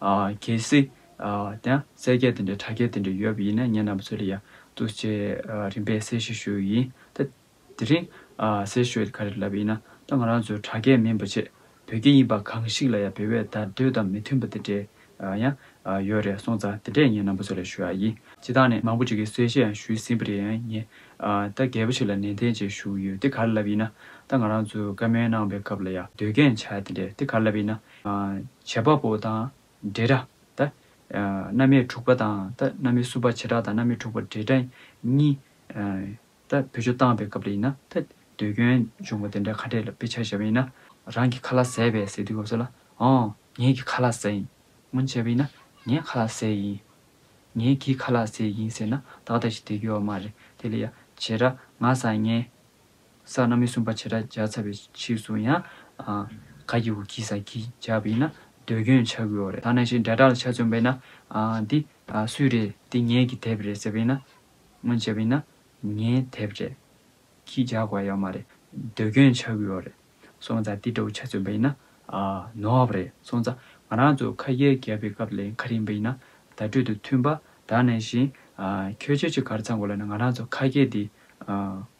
གལ་སྲིད། དེ་ན་གསལ་རྒྱས་དེ་འདྲའི་དྲ་རྒྱ་དེ་འདྲ་ཡོད་པ་ཡིན་ན་ངེད་རྣམ་པ་ཚོ་ལ་ཡང་ཐུགས་རྗེ་རིམ་པས་གསལ་བཤད་ཞུ་ཡི་ཡིན། ད་དེ་རིང་གསལ་བཤད་ག་རེ་ལབ་པ་ཡིན་ན་ད་ང་རང་ཚོའི་དྲ་རྒྱ་མིན་པ་ཆེད་བོད་སྐད་ཡིན་པ་གང་ཞིག་ལ་ཡང་བེད་བས་བརྡ་འདོད་དང་མི་མཐུན་པ་དེ་འདྲས་ཡང་ཡོད་རེད་སོང་ཙང་དེ་འདྲས་ངེད་རྣམ་པ་ཚོ་ལ་ཞུ་ཡ་ཡིན། སྤྱི་བཏང་ནས་མང་པོ་ཅིག་གིས་གསལ་བཤད་ཡང་ཞུས་ཟིན་པ་རེད་ཡང་ངེད་ད་གལ་པོ་ཆེ་ལ་ནན་ཏན་བཅས་ཞུ་ཡི་ཡོད་དེ་ག་རེ་ལབ་ཡིན་ན་ད་ང་རང་ཚོའི་བཀའ་མོལ་གནང་བའི་སྐབས་ལ་ཡང་ཟློས་གན་བྱ་ཡ་དེ་འདྲས་དེ་ག་རེ་ལབ་ཡིན་ན། བྱེད་པ་པོ་དང་འབྲེལ་སྒྲ་དང། རྣམ་དབྱེ་དྲུག་པ་དང་དང་རྣམ་དབྱེ་གསུམ་པ་བྱེ་བྲག་དང་རྣམ་དབྱེ་དྲུག་པ་འབྲེལ་སྒྲ་གཉིས། དང་བུ་ཆུ་བཏང་བའི་སྐབས་ལ་ཡིན་ན་དང་ཟློས་སྐྱོན་འབྱུང་བ་དེ་འདྲ་ཁ་འབྲས་ལ་དཔེ་ཆ་བྱ་བ་ཡིན་ན། རང་གི་ཁ་ལ་ཟས་བས་ཟེར་དུས་སྐབས་སུ་ལ། ངའི་གི་ཁ་ལ་ཟས་ཡིན། སྔོན་བྱས་པ་ཡིན་ན། ངའི་ཁ་ལ་ཟས་ཡིན། ངའི་གི་ཁ་ལ་ཟས་ཡིན་ཟེར་ན་ཏག་ཏག་ཞིག་དེ་དགོས་བ་མ་རེད་དེ་ལ་ཡང་བྱེད་སྒྲ་ང་བཟའ་ངའི། ས་རྣམས་མི་སྲུན་པ་བྱེ་བྲག་བརྒྱ་ཚར་བའི་ཕྱིས་སུ་ཡང། ག་གི་བུ་གིས་ས་གིས་བྱབ་པ་ཡིན་ན་ཟློས་སྐྱོན་བྱ་དགོས་བ་རེད་ད་ནས་ཤིག་འབྲས་གྲགས་ལ་ཆ་བཙོན་པ་ཡིན་ན། འདི་སུའི་རེད་འདི་ངེད་ཀྱི་དེབ་རེད་ཟེར་བ་ཡིན་ན། སྔོན་བྱས་པ་ཡིན་ན། ངའི་དེབ་རེད། གིས་རྒྱག་དགོས་བ་ཡོད་མ་རེད། ཟློས་སྐྱོན་བྱ་དགོས་བ་རེད། སོང་ཙང་འདི་འདྲ་བོ་ཆ་བཙོན་པ་ཡིན་ན། ནོར་བ་རེད་སོང་ཙང་ང་རང་ཚོ་ཁ་ཡར་བརྒྱབ་པའི་སྐབས་ལས་ཁ་རིང་བ་ཡིན་ན། བརྡ་སྤྲོད་དུ་མཐུན་པ་ད་ནས་བཞིན། ཁྱོད་ཆོས་ཆོས་གར་ཚང་དགོས་ལ་ན་ང་རང་ཚོ་ཁ་སྐད་འདི།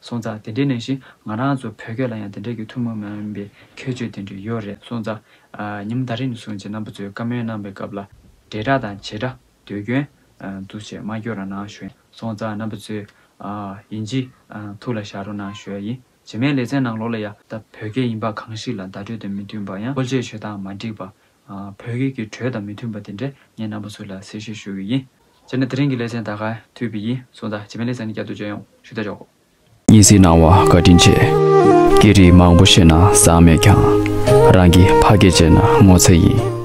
སོང་ཙང་དེ་འདྲའི་ནས་ཞིག་ང་རང་ཚོ་བོད་སྐད་ལ་ཡང་དེ་འདྲའི་གི་ཐུན་མོང་མ་ཡིན་པའི་ཁྱད་ཆོས་དེ་འདྲའི་ཡོད་རེད་སོང་ཙང། ཉིམ་ཟླ་རིམ་བཟུང་རྗེས་རྣམ་པ་ཚོས་བཀའ་མོལ་གནང་པའི་སྐབས་ལ། འབྲེལ་སྒྲ་དང་བྱེད་སྒྲ་ཟློས་སྐྱོན། འདུ་བྱེད་སྨྲ་སྐྱོ་ར་གནང་ཞོན་སོང་ཙང་རྣམ་པ་ཚོས། ཡིན་གྱི། ཐུགས་ལ་བཞག་རོགས་གནང་ཞོལ་ཡིན་བྱེད་མའི་ལེ་ཚན་ནང་ལོགས་ལ་ཡ། ད་བོད་སྐད་ཡིན་པ་གང་ཞིག་ལ་བརྡ་སྤྲོད་དང་མི་མཐུན་པ་ཡང་ཀོལ་ཆས་ཆོད་སྟངས་མ་འགྲིག་པ། བོད་སྐད་ཀྱི་གྲོས་དང་མི་མཐུན་པ་དེ་འདྲ་ངས་རྣམ་པ་ཚོ་ལ་གསལ་བཤད་ཞུ་གི་ཡིན། སྤྱིར་ན་དེ་རིང་གི་ལེ་ཚན་དག་ག་དུས་བི་ཡིས་གསུངས་དང་བྱེ་མའི་ལེ་ཚན་ནི་སྐྱར་ཟློས་བརྗོད་ཡོང་ཞུ་བདེ་འཇོག་གོ། གཉིས་གཟིགས་གནང་བ་བཀའ་དྲིན་ཆེ། སྐད་རིགས་མང་པོ་ཤེས་ན་བཟང་མེད་ཀྱང། རང་གི་ཕ་སྐད་བརྗེད་ན་ངོ་ཚ་ཡིན།